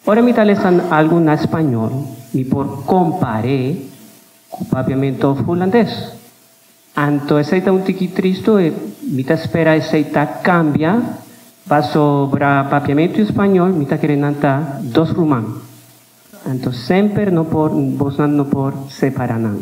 Ora mi ta lesa algu na spañol, mi por kompar'é ku papiamentu òf hulandes. Anto esei ta un tiki tristu i mi ta spera esei ta kambia, pasobra papiamentu i spañol mi ta kere nan ta dos ruman. Anto semper no por, bosnan no por separá nan.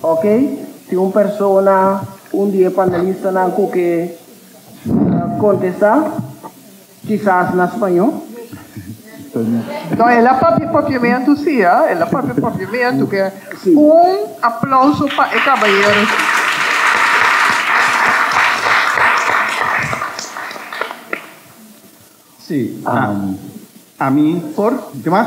Ok, si un persona, un di e panelistanan cu ke contesta, kisas na spaño. No, el a papia papiamento si, ha, el a papia papiamento. Ke un aplauso pa e cabayero si. Si, ami por, di mag.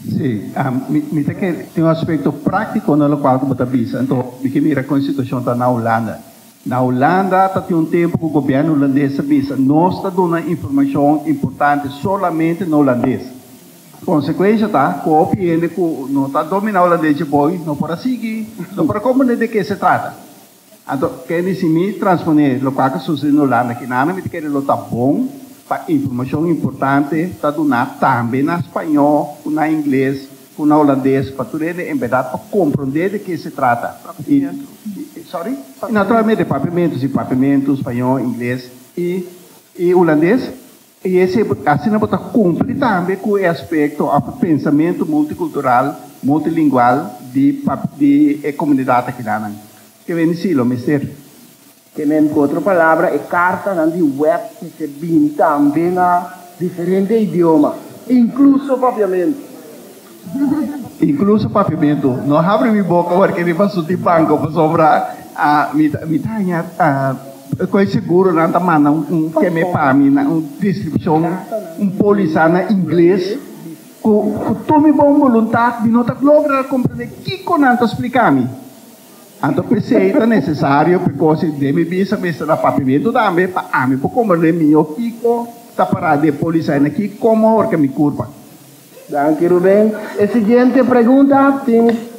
Sí, mi ta kere, tin un aspekto práktiko na lokual ku bo ta bisa. Anto, mi ke mira kon e situashon ta na Hulanda. Na Hulanda ta tin un tempu ku gobièrnu hulandes a bisa, nos ta duna informashon importante solamente na hulandes. Konsekuensha ta ku hopi hende ku no ta dominá hulandes dje bo, no por a sigui, no por a komprendé di ke se trata. Anto, Kenny, si mi transponé lokual ta susedé na Hulanda kinanda, mi ta kere lo ta bon pa informashon importante ta duná tambe na spañó ku na ingles ku na hulandes pa tur hende en berdat por komprondé di ke se trata. Papiamentu. Sòri? Papiamentu. Naturalmente, papiamentu, si papiamentu spañó, ingles i hulandes. I esei bo ta asina bo ta kumpli tambe ku e aspekto òf e pensamentu multikultural, multilingual di di e komunidat akinanan. Ke bini si lo mester. Kenen ku otro palabra e kartanan di wèp mester bini tambe na diferente idioma, inkluso papiamentu. Incluso papiamento. No habri mi boca ora ke mi paso di banco pasobra mi ta mi ta haña koe seguro nan ta manda un keme pa mi na un descripcion un poliza na ingles ku ku tur mi bon voluntad mi no ta logra comprende kiko nan ta splica mi. Anto pesey ta necesario pa koos e den mi bisa mester a papiamento tambe pa ami por comprende miho kiko ta para di e poliza na ki como ora ke mi curpa. Danki Ruben. E siguiente pregunta tin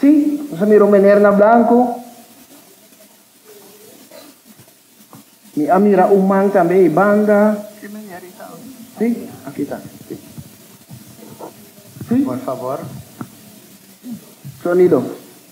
Si. Nos a mira un meneer na blanco. Mi a mira un man tambe ei banda. Ki meneer i ta aki? Si, aki ta. Si. Si. Por favor. Sonido.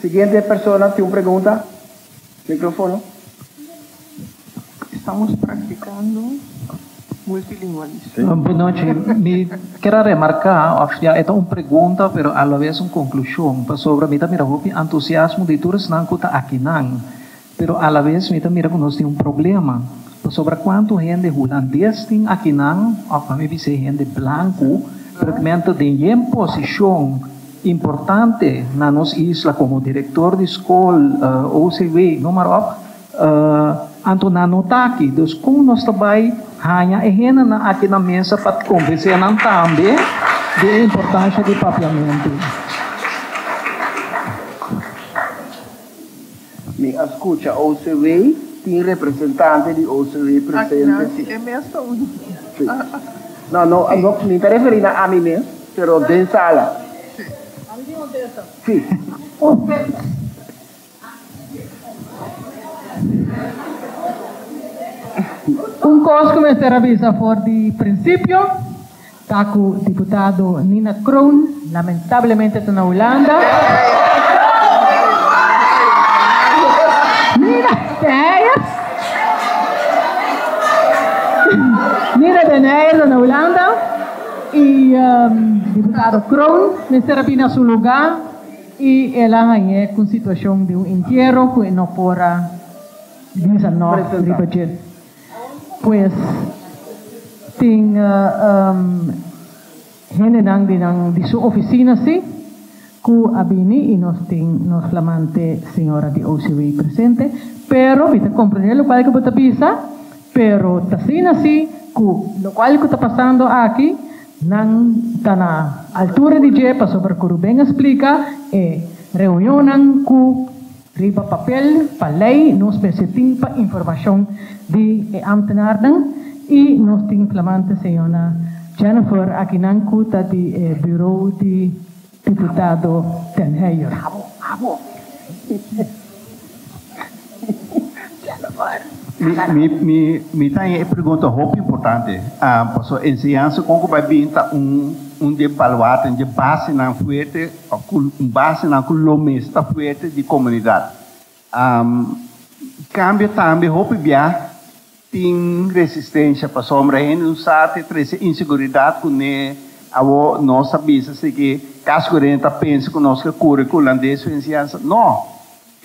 Siguiente persona tin un pregunta. Microfono. Estamos practicando multilingualismo. Boa nochi. Mi kier a remarca, of ya e ta un pregunta pero a la vez un conclusion, pasobra mi ta mira hopi entusiasmo di tur esnan cu ta akinan. Pero a la vez mi ta mira ku nos tin un problema, pasobra kuantu hende hulandes tin aki nan, òf ami bis'e hende blanku, pero ku men ta den yen posishon importante na nos isla komo direktor di skol, OCW, no mar òp, anto nan no ta aki. Dus kon nos ta bai haña e hendenan aki na mesa pa komvensé nan tambe di e importansha di papiamentu? Mi a scucha OCW, tin representante di OCW presente si. Aki na e mes ta un. Si. No, no, no, mi ta referi na ami mes, pero den sala. Si. Ami tin un testa. Si. Un testa. Un cos cu mester a bisa for di principio. Ta ku diputado Nina Kroon, lamentablemente ta na Hulanda. Nina Deneyes Nina Deneyes ta na Hulanda i diputado Kroon mester a bini na su lugá i el a hañ'é ku un situashon di un entiero ku e no por a bisa nòg riba dje. Pues, tin hendenan di nan di su oficina si cu a bini y nos tin nos flamante señora di OCW presente, pero mi ta comprende locual cu bo ta bisa, pero t'asina si cu locual cu ta pasando aki nan ta na altura di dje pasobra cu Ruben a splica e reunionnan cu. Riba papel, pa lei, nos mester tin pa informashon di e ámtenarnan i nos tin flamante señora Jennifer akinan ku ta di e buró di diputado Den Heyer. Abo, abo. Jennifer. Mi, mi, mi, mi ta haña e pregunta hopi importante, pasobra enseñansa kon ku bai bin ta un, un di e baluarte, un di e basenan fuerte. o cu basenan cu lo mes ta fuerte di comunidad. Cambio tambe hopi bia tin resistencia pasobra hende no sa te trece inseguridad cu ne awo nos ta bisa si ki cas cu hende ta pensa cu nos ke curi cu hulandes su enciansa, no.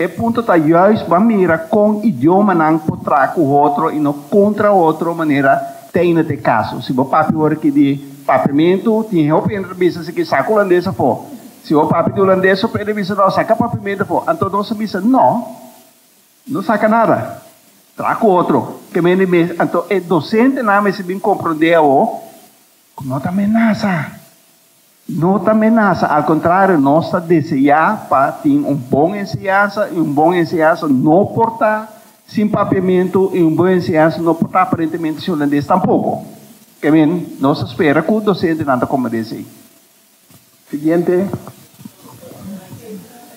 E punto ta juist pa mira kon idiomanan por traha ku otro i no kontra otro manera ta ina t'e kaso. Si bo papia ora ki di papiamentu, tin e hopi hende ta bisa esaki, Saka hulandes afó. Si bo papia di hulandes hopi hende ta bisa, No, saka papiamentu afó. Anto nos a bisa, No, no saka nada. Traha ku otro. Ken hende mes, anto e dosentenan mester bin komprondé awor ku no ta menasa. No ta menasa, al kontrario, nos ta deseá pa tin un bon enseñansa, i un bon enseñansa no por ta sin papiamentu, i un bon enseñansa no por ta aparentemente sin holandés tampoko. Kèmen, nos ta spera ku dosentenan ta komende esei. Siguiente.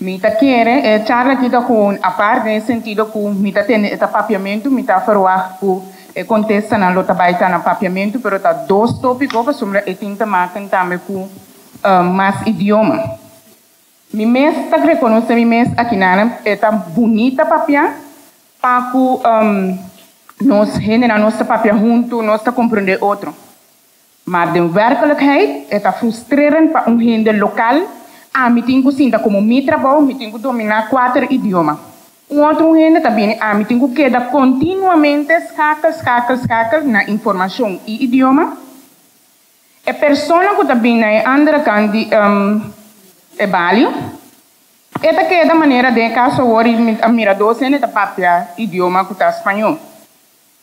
Mi ta kere e charla aki ta gewoon apart den e sentido ku mi ta tende e ta papiamentu, mi ta ferwagt ku e kontestanan lo ta bai ta na papiamentu, pero ta dos tópiko pasobra e tin te maken tambe ku mas idioma. Mi mes ta rekonosé mi mes akinan e ta bunit ta papia pa ku nos hendenan nos ta papia huntu, nos ta komprondé otro. Maar den werkelijkheid e ta frustrerend pa un hende local, ami tin cu sinta como mi trabou mi tin cu domina cuater idioma. Un otro un hende ta bini ami tin cu keda continuamente schakel, schakel, schakel na informacion y idioma. E persona cu ta bini na e andere kant di e balie, e ta keda manera den e cas awor y mi ta mira dos hende ta papia idioma cu ta Spañó.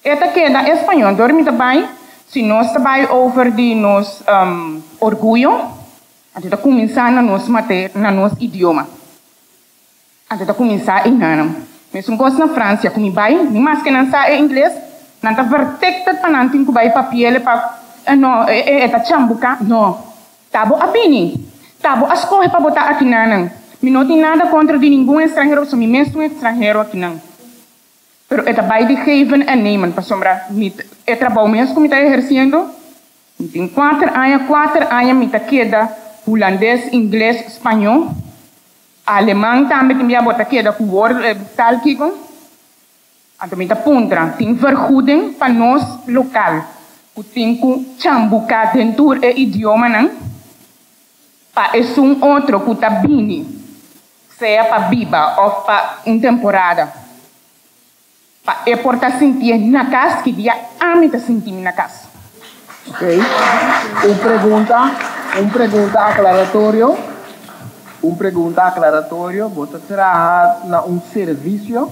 E ta keda español dor mi ta bai, si nos ta bai over di nos orguyo, anto ta kuminsá na nos mate na nos idioma, anto ta kuminsá i nanan. Mesun kos na Fransia, ku mi bai, ni mas ke nan sa e ingles, nan ta vertekpet pa nan tin ku bai papiele pa, eh no, e ta chan buka, no, ta bo a bini, ta bo a skohe pa bo ta aki nanan, mi no tin nada kontra di ningun estranhero, pasobra mi mes ta un estranhero aki nan. Pero e ta bai di geven en nemen, pasobra mi ta, e trabou mes ku mi ta ehersiendo, mi tin kuater aña, kuater aña mi ta keda Hulandes, Ingles, Spañó, Aleman tambe tin bia bo ta keda ku wòrdu e tal kiko. Anto mi ta puntra, tin vergoeding pa nos lokal ku tin ku chan buka den tur e idiomanan? pa esun otro ku ta bini, sea pa biba òf pa un temporada, pa e por ta sinti e na kas ki dia ami ta sinti mi na kas. Ok. Un pregunta, un pregunta aklaratorio, un pregunta aklaratorio, Bo ta traha na un servisio?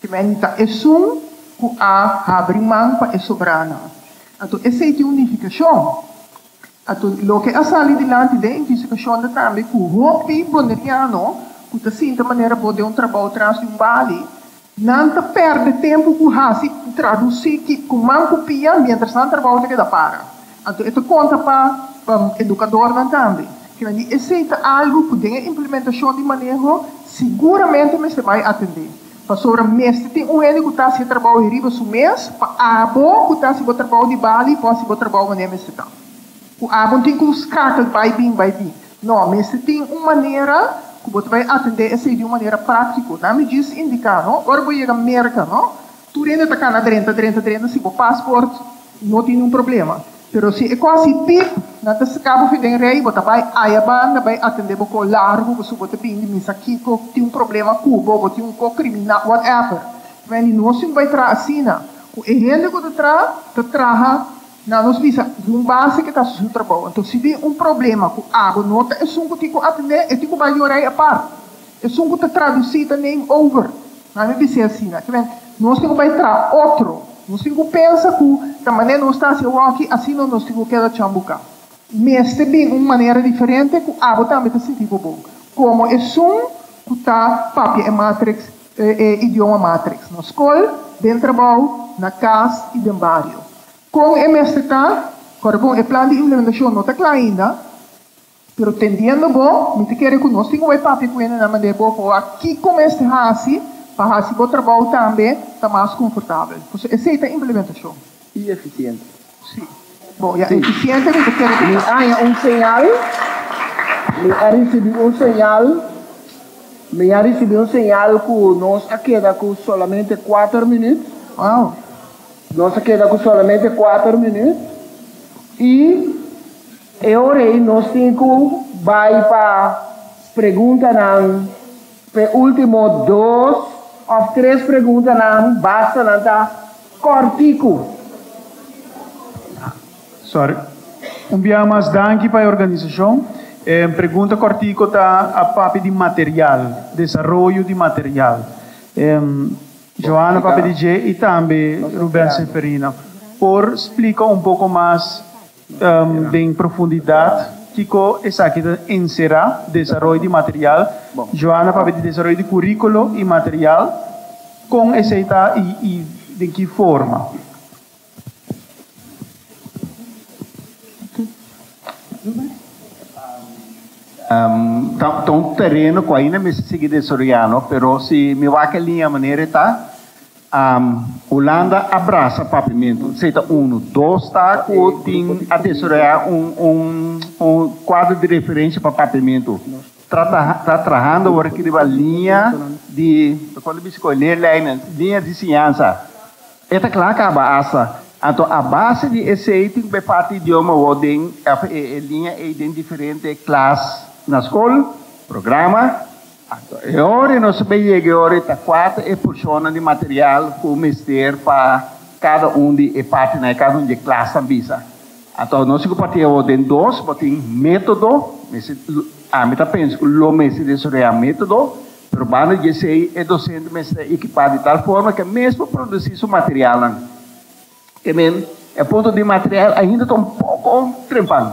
Timenti ta esun ku a habri man pa e sobranan. Anto esei tin un nifikashon. Anto loke a sali dilanti den e fisikashon ta tambe ku hopi Boneriano ku ta sinta manera bo den un trabou tras di un bali, nan ta pèrdè tempu ku hasi tradusí ki ku man ku pia mientras nan trabou ta keda para. Anto e ta konta pa edukadornan tambe. Kila di esei ta algu ku den e implementashon di maneho siguramente mester bai atendé. Pasobra mester tin un hende ku ta hasi e trabou ei riba su mes pa abo ku ta hasi bo trabou di bali por hasi bo trabou manera mester ta. Ku abo no tin ku skakel bai bin, bai bin. No, mester tin un manera ku bo ta bai atendé esei di un manera práktiko. Dame djis indiká, no. Ora bo yega Merka, no, Tur hende ta kana drenta, drenta, drenta si bo pasport no tin un problema. Pero si e kos si pip nan ta saka bo fi den rei, bo ta bai aya banda bai atende bo ko largu pasobra bo ta bin di misa kiko tin un problema ku bo, bo tin un ko krimina, whatever. Terwijl i nos tin bai traha asina. Ku e hende ku ta traha, ta traha nan nos bisa esun base ke ta hasi su trabou. Anto si bin un problema ku abo no ta esun ku tin ku atende, e tin ku bai di un rei apart. Esun ku ta tradusi ta name over. Nan a bis'é asina. Ta b'en, nos tin ku bai tra otro. Nos tin ku pensa ku ta manera nos ta hasi awor aki, asina nos tin ku keda chambuka. Mester bin un manera diferente ku abo tambe ta sinti bo bon, komo esun ku ta papia e matriks, e idioma matriks, na skol, den trabou, na kas i den bario. Kon e mester ta? Kòrda bon, e plan di implementashon no ta kla ainda. Pero tendiendo bo, mi ta kere ku nos tin un e papia ku hende na manda e bo pa wak kiko mester hasi pa hasi bo trabou tambe ta mas konfortabel. Por eso esei ta implementashon. I efisiente. Sí. Bo ya efisiente mi ta kere ku mi haña un señal, mi a risibi un señal, mi a risibi un señal ku nos a keda ku solamente kuater minüt, Wow. nos a keda ku solamente kuater minüt i. E ora ei nos tin cu bay pa preguntanan, pa e ultimo dos of tres preguntanan basta nan ta corticu. Sorry. Un bia mas danki pa e organisacion. E pregunta cortico ta a papia di material, desaroyo di material. E Johanna papia di dje y tambe Ruben Seferina por splica un poco mas. Den profundidat, kiko esaki ta enserá? Desaroy di material. Joana papia di desaroy di kuríkulo i material. Kon esei ta i den ki forma? Ta un tereno ku ainda mester sigui desaroyá no, pero si mi wak e liña manera e ta. Hulanda a brasa Papimentu. Esei ta unu. Dos ta ku tin a desaroyá un un kuadro di referensia pa Papimentu. Ta ta trahando ora ki riba liña di kon ta bisti ku e leerlijnen, liña di siñansa. E ta kla kaba asta. Anto a base di esei tin ku bo e parti idioma bo den òf e liña ei den diferente klas na skol, programa. Ato, e ora nos a bai yega, e ora ta kuater e porshonnan di material ku mester pa kada un di e partinan, kada un di e klasnan bisa. Ato, nos a kuparti awor den dos, bo tin metodo, mester, ami ta pensa ku lo mester desaroyá un metodo, pero banda di esei e dosente mester ta ekipá di tal forma ke mes por produsí su materialnan. Te men, e punto di material ainda ta un poko trempan.